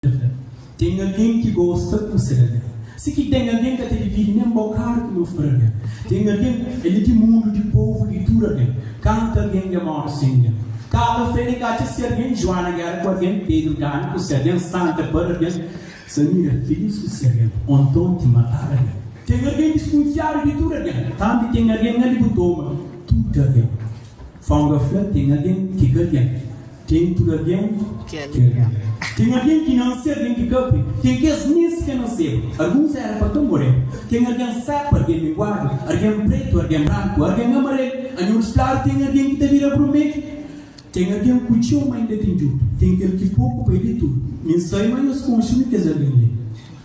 ta fla, Ten algen ki gosta ku se lalé. Si ki ten algen ka ta dividi nen bokadu ki nos parabén. Ten algen, el é di mundu, di povu di tudu algen. Kantu algen dja móre sen ningen ka ta fla, nen ka atxa si algen Juana géra ku algen, Pedru gana ku si algen, Santa para algen, Samira é filís ku si algen, ô nton ki matadu algen. Ten algen diskunfiadu di tudu algen. Tanbê ten algen na libutoma tudu algen. Fanga fla ten algen ki ka ten. Ten tudu algen ki algen. Ten algen ki nase algen ki ka ben. Ten kes nes ka naseba. Alguns era pa ka moreba. Ten algen sepa algen minguadu. Algen pretu algen branku algen amarelu. Anhurus klaru ten algen ki ta bira brumelu. Ten algen ku txeu ma inda ten djutu. Ten kel ki poku pa e di tudu. Mi n sai ma nhos konxe mi kes algen li.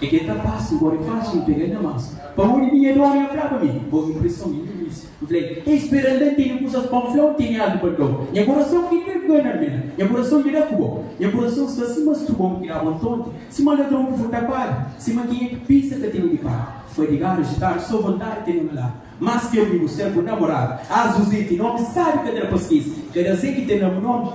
Ke ke ta pasa gora e faxi pega nha masa pa undi minha dona nha fla pa mi bo impreson nha nha misi mi fla el ei spera anda n tene kusas pa n fla n tene algu pa dau nha kurason ke ta gana mi la nha kurason dja da ku bo nha kurason sta sima struba un kiraba un tonti sima ladron ku furta padi sima kenha ki pisa ka tene ki paga fadigadu ajitadu so vontadi tene na ladu mas ke amigu ser bu namoradu azuze ti nomi sabi ka dada pa skese kada ze ki tene amu nomi.